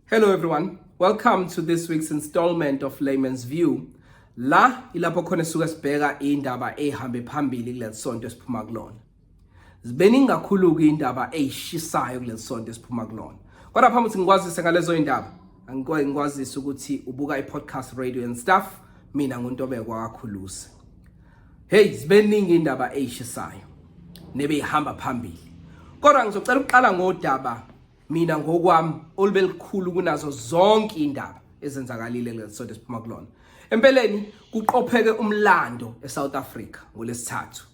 Hello everyone. Welcome to this week's installment of Layman's View. La ilapho khona suka sibheka indaba ehambe phambili kulesonto esiphuma kulona. Zibeningi kakhulu ke indaba ezishisayo kulesonto esiphuma kulona. Kodwa phambi ukuthi ngikwazise ngalezo indaba, angikwazi ngikwazise ukuthi ubuka i-podcast radio and stuff mina nguNtobeko kakhulusi. Hey zibeningi indaba eyishisayo nebeyihamba phambili. Kodwa ngizocela ukuqala ngodaba mina ngokwami olubelikhulu kunazo zonke indaba ezenzakalile lesonto esiphuma kulona. Empeleni kuqopheke umlando eSouth Africa ngolesithathu.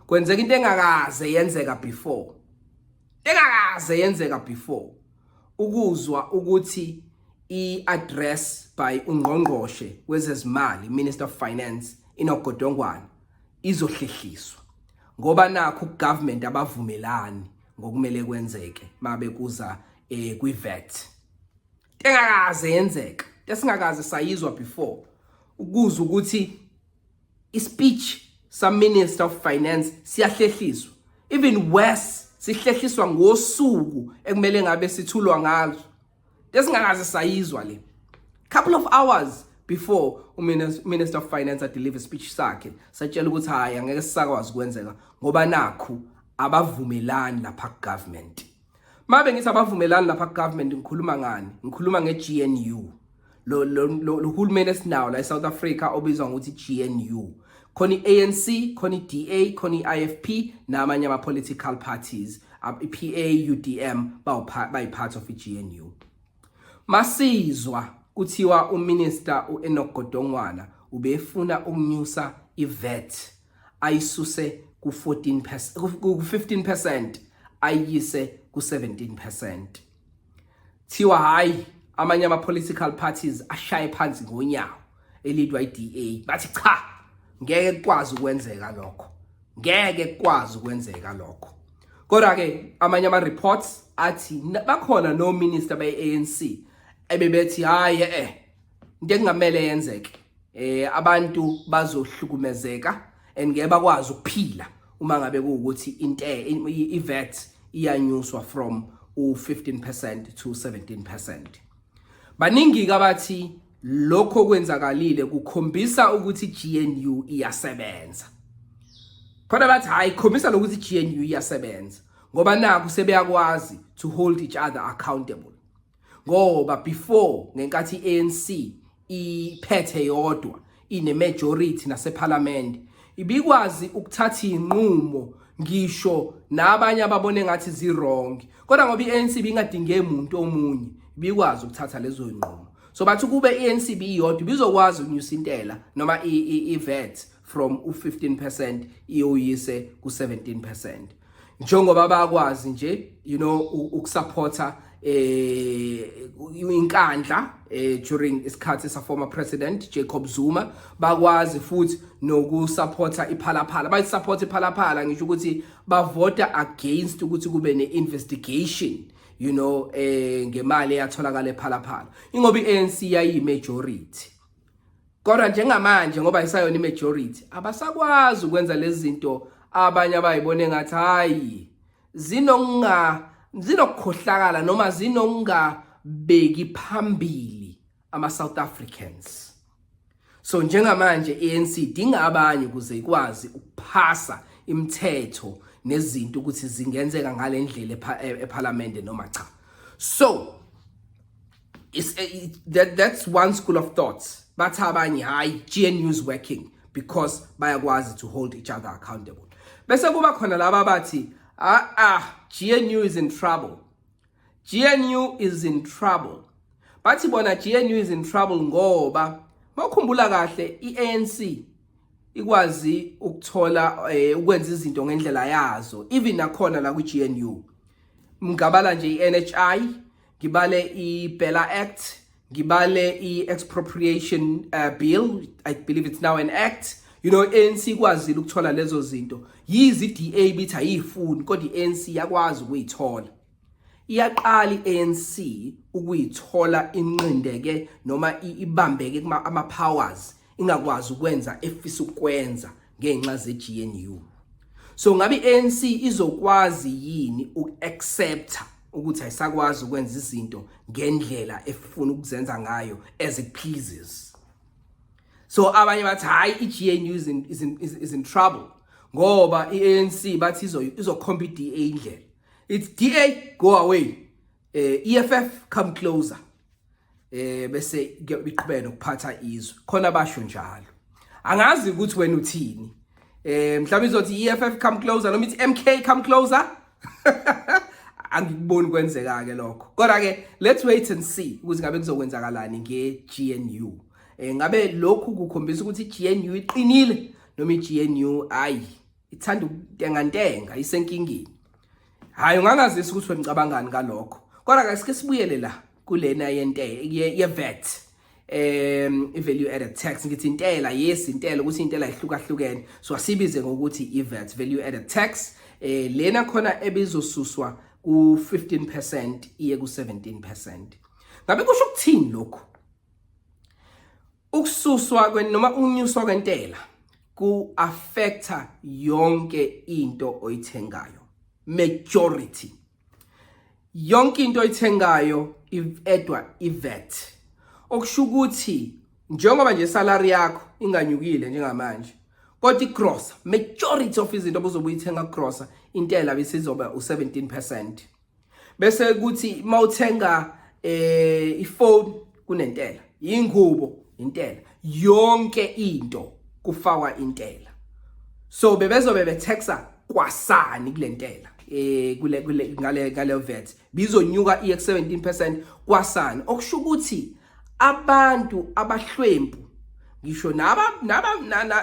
Kwenzeka into engakaze yenzeka before. engakaze yenzeka before ukuzwa ukuthi i-address by ungqongqoshe wezezimali minister of finance inogodongwana izohlehliswa ngoba nakho government abavumelani ngokumele kwenzeke mabe kuza eh kwivet engakaze yenzeka esingakaze sayizwa before ukuza ukuthi ispeech sa minister of finance siyahlehliswa even worse sihlehliswa ngosuku ekumele ngabe sithulwa ngalo lesingakaze sayizwa le couple of hours before uminister of finance adeliver speech sakhe satshela ukuthi hayi angeke sisakwazi kwenzeka ngoba nakhu abavumelani lapha government Mabe ngithi abavumelani lapha government ngikhuluma ngani ngikhuluma ngeGNU lo lo hulumeni esinawo la eSouth Africa obizwa ngokuthi GNU khona iANC khona iDA khona iIFP namanye ama political parties iPA UDM bayi part of iGNU masizwa kuthiwa uminister uEnoch Godongwana ubefuna ukunyusa iVAT ayisuse ku-14 ku-15 percent ayiyise ku-17 percent thiwa hhayi amanye ama-political parties ashaye phansi ngonyawo elidwa i-da bathi cha ngeke kukwazi ukwenzeka lokho ngeke kukwazi ukwenzeka lokho kodwa-ke amanye ama-reports athi bakhona nominister be-anc ebebethi hhayi e-e into ekungamele yenzeke eh abantu bazohlukumezeka and ngeke bakwazi ukuphila uma ngabe kuwukuthi inte iVAT iyanyuswa from u15% to 17% baningi kabathi lokho kwenzakalile kukhombisa ukuthi GNU iyasebenza khona bathi hayi khombisa lokuthi GNU iyasebenza ngoba naku sebeyakwazi to hold each other accountable ngoba before ngenkathi ANC iphethe yodwa ine majority nasephalamende ibikwazi ukuthatha inqumo ngisho nabanye ababone ngathi ziwrong kodwa ngoba iANC bingadinge umuntu omunye bikwazi ukuthatha lezo nqumo so bathi kube iANC biyodwa bizokwazi ukunyusa intela noma iVAT from u15% iyoyise ku17% njengoba bakwazi nje you know ukusupporta eh inkandla eh during isikhathi sa former president Jacob Zuma bakwazi futhi nokusupporta iphalaphala bayi support iphalaphala ngisho ukuthi bavota against ukuthi kube ne investigation you know eh ngemali eyatholakala ephalaphala ingoba iANC yayi majority Kodwa njengamanje ngoba isayona imajority abasakwazi ukwenza lezi zinto abanye abayibone ngathi hayi zinonga zinokukhohlakala noma zinonga beki phambili ama South Africans so njengamanje ANC idinga abanye ukuze ikwazi ukuphasa imithetho nezinto ukuthi zingenzeka ngalendlela e-, eParliament noma cha so It's, eh, it, that, that's one school of thoughts bathi abanye hhayi gnu is working because bayakwazi to hold each other accountable bese kuba khona laba bathi ah ah gnu is in trouble gnu is in trouble bathi bona gnu is in trouble ngoba mawukhumbula kahle i-anc ikwazi ukuthola eh, ukwenza izinto ngendlela yazo even nakhona la kwi-gnu mngabala nje i-nhi ngibale i-bella act ngibale i-expropriation uh, bill i believe it's now an act you know ANC ikwazile ukuthola lezo zinto yizi DA bithi ayifuni kodwa iANC yakwazi ukuyithola iyaqala iANC ukuyithola inqindeke noma ibambeke kuma ama powers ingakwazi ukwenza efisa ukwenza ngenxa zeGNU so ngabe iANC izokwazi yini ukuaccepta ukuthi ayisakwazi ukwenza izinto ngendlela efuna ukuzenza ngayo as it pleases so abanye bathi hayi iGNU is in, is in, is in trouble ngoba iANC bathi izo izokhomba iDA indlela it's DA go away eh EFF come closer eh bese kuyobiqhubeka nokuphatha izwe khona basho njalo angazi ukuthi wena uthini eh mhlawumbe izothi EFF come closer noma ithi MK come closer angikuboni kwenzeka ke lokho kodwa ke let's wait and see ukuthi ngabe kuzokwenzakalani ngeGNU eh ngabe lokhu kukhombisa ukuthi iGNU iqinile noma iGNU ayi ithanda ukuntengantenga isenkingeni Hayi ungangazisa ukuthi wenicabangani ngalokho. Kodwa ke sike sibuyele la kulena yente ye VAT um i-value added tax ngithi intela yes intela ukuthi intela ihlukahlukene so asibize ngokuthi i-VAT value added tax eh lena khona ebizosuswa ku-15% iye ku-17% ngabe kusho ukuthini lokhu Ukususwa kwe noma unyuswa kwentela ku affecta yonke into oyithengayo. Majority. Yonke into oyithengayo ivedwa ivet. Okusho ukuthi njengoba nje salary yakho inganyukile njengamanje kodwa igrosa majority of izinto obuzobuyithenga grosa intela bisizoba u17% bese kuthi mawuthenga eh ifone kunentela ingubo intela yonke into kufakwa intela so bebezobe betaxa kwasani kulentela eh kule kule ngale ngale vet bizonyuka i 17% kwasani okusho ukuthi abantu abahlwempu ngisho naba naba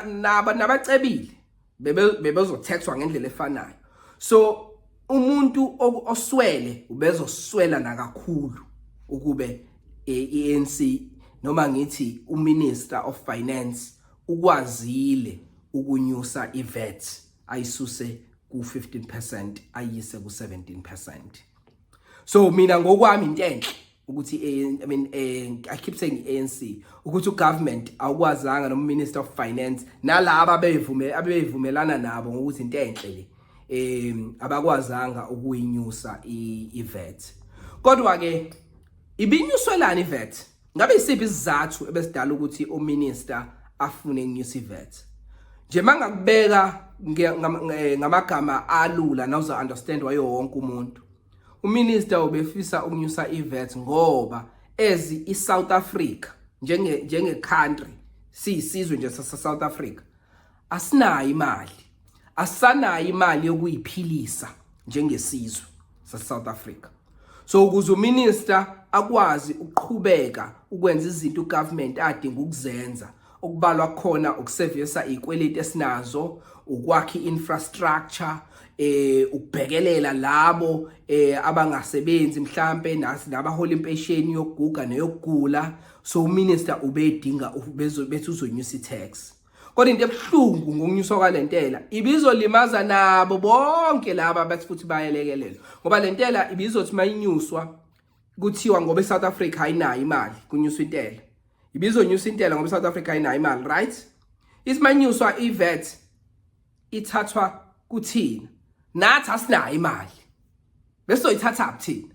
naba nabacebile bebezothexwa ngendlela efanayo so umuntu oswele ubezoswela nakakhulu ukube iANC e noma ngithi uminister of finance ukwazile ukunyusa iVAT ayisuse ku 15% ayise ku 17% so mina ngokwami into enhle ukuthi i mean eh, i keep saying ANC ukuthi ugovernment awukwazanga no minister of finance nalabo beyivume abeyivumelana nabo ngokuthi into enhle le eh abakwazanga ukuyinyusa iVet kodwa ke ibinyuswelani iVet Ngabe isiphi isizathu ebesidala ukuthi uminister afune uNewsivet? Nje mangakubeka eh, ngamagama alula nawuzo understand wayo wonke umuntu. Uminister ubefisa ukunyusa iVet ngoba ezi iSouth Africa njenge njenge country siyisizwe nje saseSouth Africa Asinayo imali. Asanayo imali yokuyiphilisa njengesizwe saseSouth Africa. So ukuze uminister akwazi ukuqhubeka ukwenza izinto ugovernment adinga ukuzenza okubalwa khona ukusevisa izikweleti esinazo, ukwakha infrastructure eh ukubhekelela labo eh abangasebenzi mhlambe nasi nabahola impesheni yokuguga neyokugula so uminister ubedinga bethi uzonyusa i-tax kodwa into ebuhlungu ngokunyuswa kwalentela ibizolimaza nabo bonke laba abathi futhi bayelekelelwa ngoba lentela ibizothi mayinyuswa kuthiwa ngoba eSouth Africa ayinayo imali kunyuswa intela ibizonyusa intela ngoba eSouth Africa ayinayo imali right isimanyuswa iVet ithathwa kuthina nathi asinayo imali bese soyithatha kuthina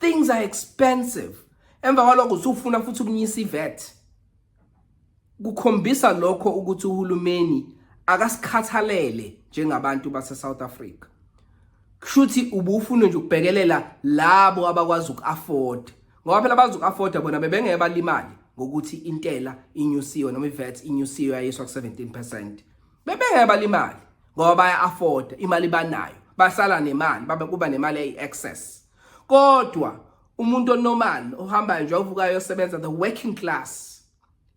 things are expensive emva kwalokho usufuna futhi ukunyisa ivet kukhombisa lokho ukuthi uhulumeni akasikhathalele njengabantu baseSouth Africa kushuthi ubufuna nje ukubhekelela labo abakwazi ukuafford ngoba phela bazi ukuafforda bona bebengeke balimali ngokuthi intela inyusiwe noma iVAT inyusiwe yayiswa ku 17% bebengeke balimali ngoba baya afford imali banayo basala nemali babe kuba nemali eyi excess kodwa umuntu onormal ohambayo nje ovukayo yosebenza the working class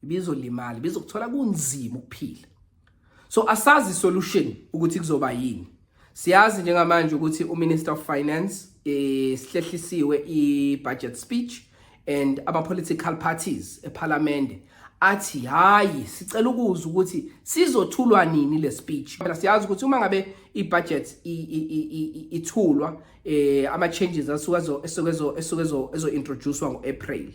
ibizolimali bizokuthola kunzima ukuphila so asazi solution ukuthi kuzoba yini Siyazi njengamanje ukuthi uMinister of Finance eh, sihlehlisiwe i-budget speech and ama-political parties ephalamende athi hayi sicela ukuzwa ukuthi sizothulwa nini le speech phela siyazi ukuthi uma ngabe i-budget ithulwa eh ama-changes asuke esuke ezo-introducwa ngo-april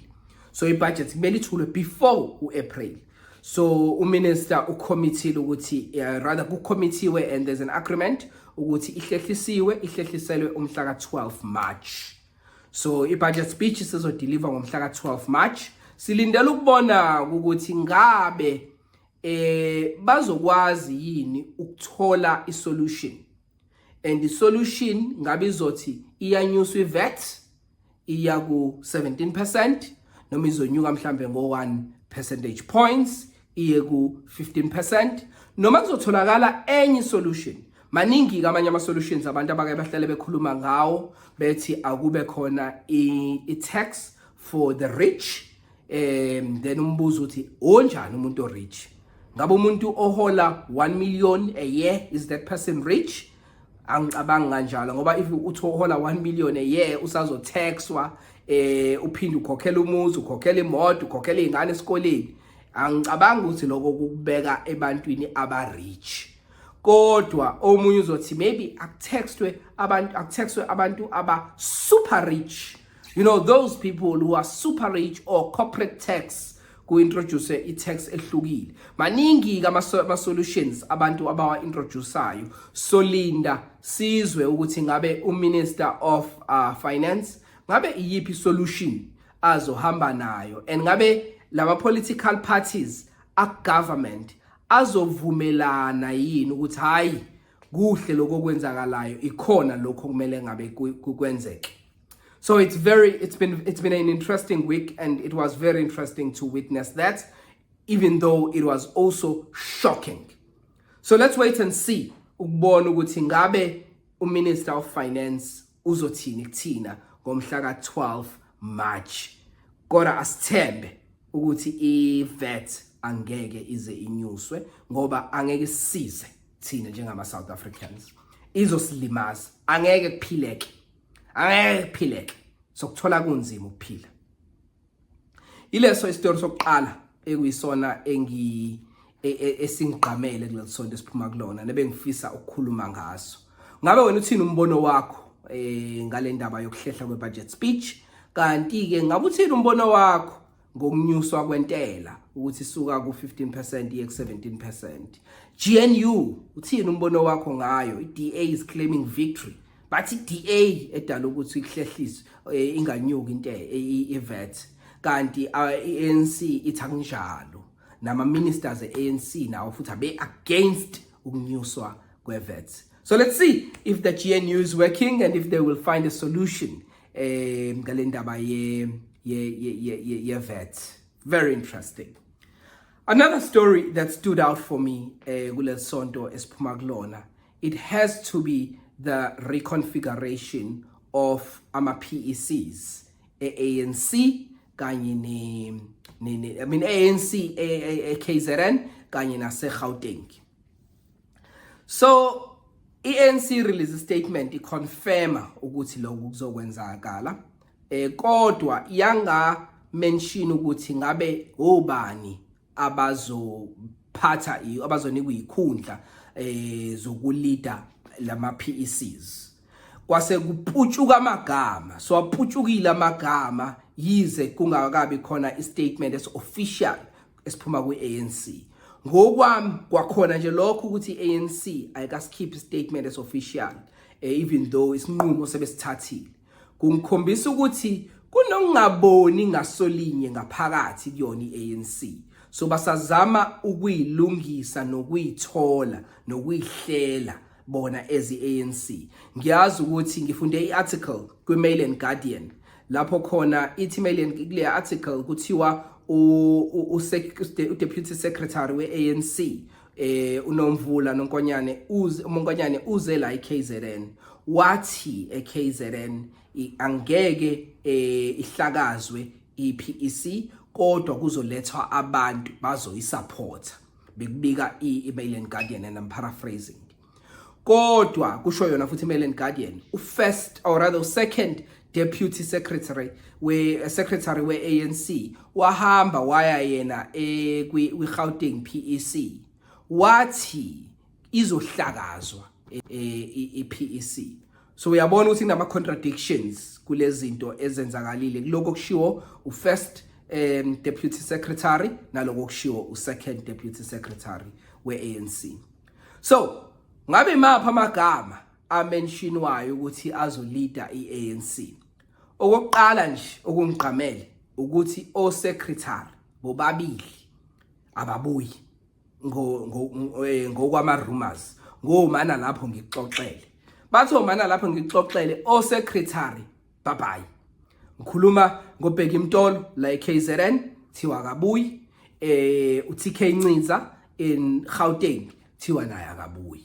so i-budget kumele ithulwe before u-april so uminister ucommittee ukuthi uh, rather kucommitteewe and there's an agreement ukuthi ihlehlisiwe ihlehliselwe umhla ka-12 march so i-budget speech sizodeliver ngomhla ka-12 march silindele ukubona ukuthi ngabe eh bazokwazi yini ukuthola isolution and the solution ngabe izothi iyanyuswa iVAT iya ku 17% noma izonyuka mhlambe ngo 1 percentage points iye ku 15% noma kuzotholakala enye solution maningi kamanye ama solutions abantu abake bahlale bekhuluma ngawo bethi akube khona i tax for the rich um then umbuzo uthi onjani umuntu orich ngabe umuntu ohola 1 million a year is that person rich angicabangi kanjalo ngoba if uthi uhola 1 million a year usazotaxwa eh uphinde ukhokhela umuzi ukhokhela imoto ukhokhela izingane esikoleni angicabangi ukuthi lokho kukubeka ebantwini abarich kodwa omunye uzothi maybe akutextwe abantu akutextwe abantu aba super rich you know those people who are super rich or corporate tax ku-introduce i-tax ehlukile maningi-ke ama-solutions abantu abawa-introdusayo solinda sizwe ukuthi ngabe uminister of uh, finance ngabe iyiphi solution azohamba nayo and ngabe lama political parties a government azovumelana yini ukuthi hayi kuhle lokho kwenzakalayo ikhona lokho kumele ngabe kwenzeke So it's very it's been it's been an interesting week and it was very interesting to witness that even though it was also shocking. So let's wait and see ukubona ukuthi ngabe uMinister of Finance uzothini kuthina ngomhla ka-12 March. Kodwa asithembe ukuthi iVAT angeke ize inyuswe ngoba angeke size thina njengama South Africans. Izosilimaza, angeke kuphileke. angeke kuphileke sokuthola kunzima ukuphila ileso isitori sokuqala ekuyisona engi e, e, esingigqamele kulesonto esiphuma kulona nebengifisa ukukhuluma ngaso ngabe wena uthini umbono wakho eh ngalendaba yokuhlehla kwe budget speech kanti ke ngabe uthini umbono wakho ngokunyuswa kwentela ukuthi suka ku-15 percent iye ku-17 percent gnu uthini umbono wakho ngayo i-da is claiming victory but i-da edala ukuthi ihlehlise eh, inganyuki into eh, ivet kanti i-anc ithi akunjalo nama-ministers e-anc nawo futhi abe-against ukunyuswa kwe-vet so let's see if the gnu is working and if they will find a solution eh ngalendaba ye ye ye ye vet very interesting another story that stood out for me eh kulesonto esiphuma kulona it has to be the reconfiguration of ama PECs eANC kanye ne ne I mean ANC eKZN kanye naseGauteng so i-ANC release statement iconfirma ukuthi lokhu kuzokwenzakala eh kodwa yanga mention ukuthi ngabe obani abazophatha abazonikwa ikhundla eh zokulida lama PECs kwase kuputshuka amagama so aputshukile amagama yize kungakabi khona istatement es official esiphuma kwi-anc ngokwami kwakhona nje lokho ukuthi i-anc ayikasikhiphi statement esofficial eh, even though isinqumo sebesithathile kungikhombisa ukuthi kunokungaboni ngasolinye ngaphakathi kuyona i-anc so basazama ukuyilungisa nokuyithola nokuyihlela bona as i-anc ngiyazi ukuthi ngifunde i-article kwi-mail and guardian lapho khona ithi mail and kule article kuthiwa udeputy secretary we-anc eh unomvula nonkonyane uze umonkonyane uze la eKZN wathi eKZN angeke eh ihlakazwe iPEC kodwa kuzolethwa abantu bazoyisupporta bekubika i-Mail and Guardian and I'm paraphrasing kodwa kusho yona futhi i-Mail and Guardian u-first or rather u-second deputy secretary we uh, secretary we ANC wahamba waya yena eh, kwi Gauteng PEC wathi izohlakazwa e, e, iPEC so uyabona ukuthi kunama contradictions kulezinto ezenzakalile kuloko kushiwo ufirst um deputy secretary naloko kushiwo usecond deputy secretary weANC so ngabe mapha amagama amenshinwayo ukuthi azolida iANC okokuqala nje okungigqamele ukuthi osecretary bobabili ababuyi eh, ngokwama-rumors ngomana lapho ngikuxoxele bathi omana lapho ngikuxoxele osecretary babayi ngikhuluma ngobheki mtolo la e-kzn thiwa kabuyi eh uTK Ncinza in Gauteng thiwa naye akabuyi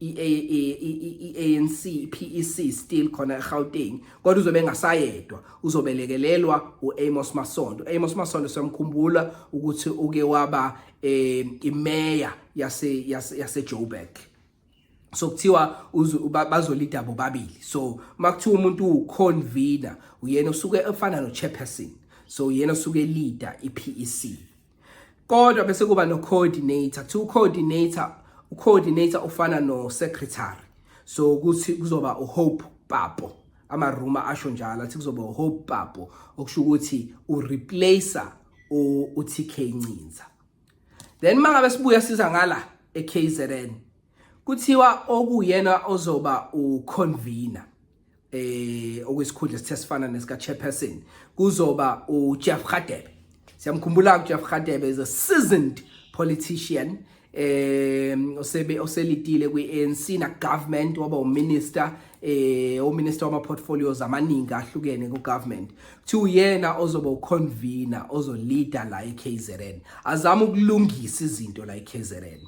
i-ANC i-PEC still khona eGauteng kodwa uzobe engasayedwa uzobelekelelwa u-Amos Masondo Amos Masondo siyamkhumbula ukuthi uke waba eh, imeya yase yase Joburg so kuthiwa bazolida bobabili so makuthiwa umuntu uconvener uyena usuke efana no chairperson so uyena usuke leader iPEC kodwa bese kuba no coordinator kuthiwa ucoordinator ucoordinator ufana no secretary so ukuthi kuzoba uhope papo amaruma asho njalo athi kuzoba uhope papo okusho ukuthi ureplacer uTK Ncinza then mangabe sibuya siza ngala eKZN kuthiwa okuyena ozoba uconvener eh okuyisikhundla esithe sifana nesika chairperson kuzoba uJeff Khadebe siyamkhumbula uJeff Khadebe is a seasoned politician eh osebe oselitile kwiANC na government waba uminister eh uminister wama portfolios amaningi ahlukene ku government kuthiwa uyena ozoba uconvener ozoleader la eKZN azama ukulungisa izinto la eKZN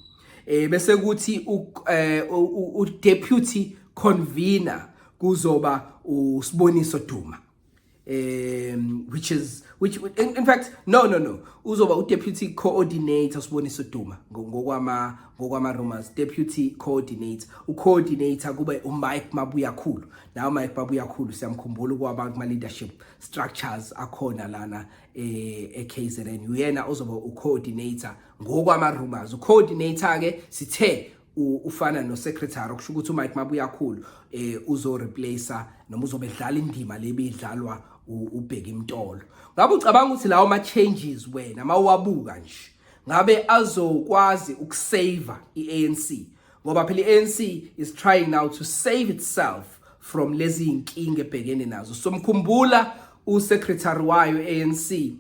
eh bese kuthi eh, u deputy convener kuzoba usiboniso Duma um which is which in, in fact no no no uzoba u deputy coordinator usiboniso Duma ngokwama ngokwama rumors deputy coordinator u coordinator kube u Mike Mabuya khulu nawo Mike Mabuya khulu siyamkhumbula kwabantu ma leadership structures akhona lana eh eKZN uyena ozoba ucoordinator ngokwama rumors ucoordinator ke sithe ufana no secretary okusho ukuthi uMike Mabuyakhulu eh uzo replacer noma uzobe edlala indima lebidlalwa ubheka imtolo ngabe ucabanga ukuthi lawo ma changes wena mawabuka nje ngabe azokwazi ukusave iANC ngoba phela i-ANC is trying now to save itself from lezi zinkinga ebhekene nazo so mkhumbula usecretary wayo ANC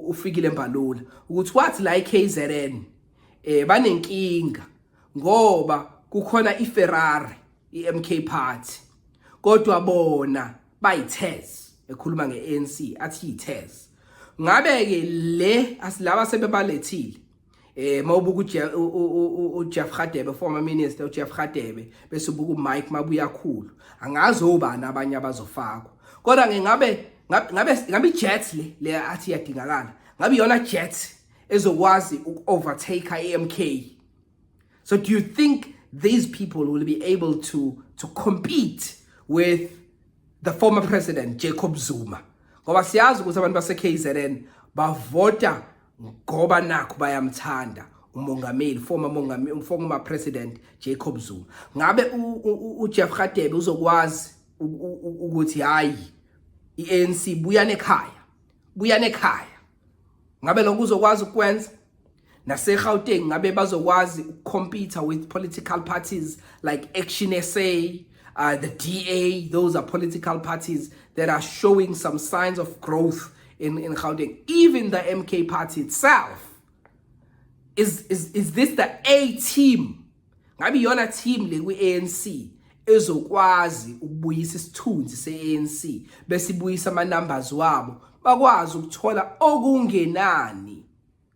ufikile mbalula ukuthi wathi la iKZN eh banenkinga ngoba kukhona iFerrari iMK Party kodwa bona bayithes ekhuluma ngeANC athi yithes ngabe ke le asilaba sebebalethile eh mawubuka uJeff Khadebe former minister uJeff Khadebe bese ubuka uMike Mabuyakhulu angazi obani abanye abazofakwa kodwa ngingabe ngabe ngabe Jets le le athi yadingakala ngabe yona Jets ezokwazi uku-overtake i-MK so do you think these people will be able to to compete with the former president Jacob Zuma ngoba siyazi ukuthi abantu base KZN bavota ngoba nakho bayamthanda umongameli former mongameli former president Jacob Zuma ngabe uJeff Radebe uzokwazi ukuthi hayi iANC buya nekhaya buya nekhaya ngabe lokho uzokwazi ukwenza naseGauteng ngabe bazokwazi ukukhompetha with political parties like Action SA Uh, the DA, those are political parties that are showing some signs of growth in, in Gauteng. Even the MK party itself. Is, is, is this the A team? Ngabe yona team le kwi-ANC ezokwazi ukubuyisa isithunzi se-ANC besibuyisa ama-numbers wabo bakwazi ukuthola okungenani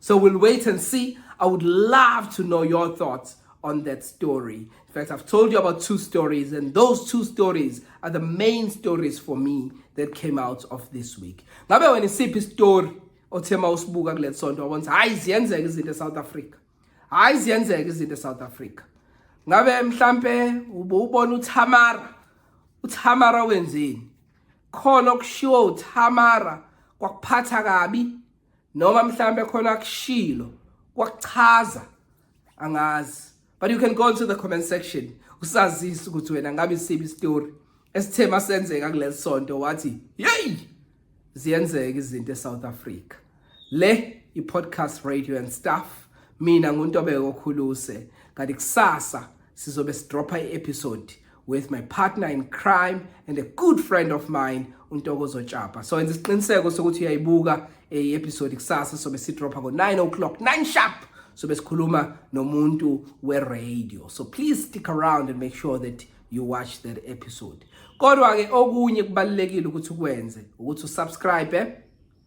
So we'll wait and see. I would love to know your thoughts on that story. In fact, I've told you about two stories, and those two stories are the main stories for me that came out of this week. Ngabe wena isiphi story othe ma usibuka kule sonto wabona ukuthi hayi ziyenzeka izinto eSouth Africa. Hayi ziyenzeka izinto eSouth Africa. Ngabe mhlambe ubona uThamara. uThamara wenzeni khona okushiwo uThamara kwakuphatha kabi noma mhlambe khona akushilo kwakuchaza angazi but you can go into the comment section usazisa ukuthi wena ngabe isibi story esithe masenzeka kuleli sonto wathi hey ziyenzeka izinto eSouth Africa le i-podcast radio and stuff mina nguNtobeko Khuluse kanti kusasa sizobe sidropha i-episode with my partner in crime and a good friend of mine untokozo tshapa so enza isiqiniseko sokuthi uyayibuka i-episode kusasa sobe sidropha ngo-9 o'clock 9 sharp sobe sikhuluma nomuntu we-radio so please stick around and make sure that you watch that episode kodwa-ke okunye kubalulekile ukuthi ukwenze ukuthi usubscribe eh?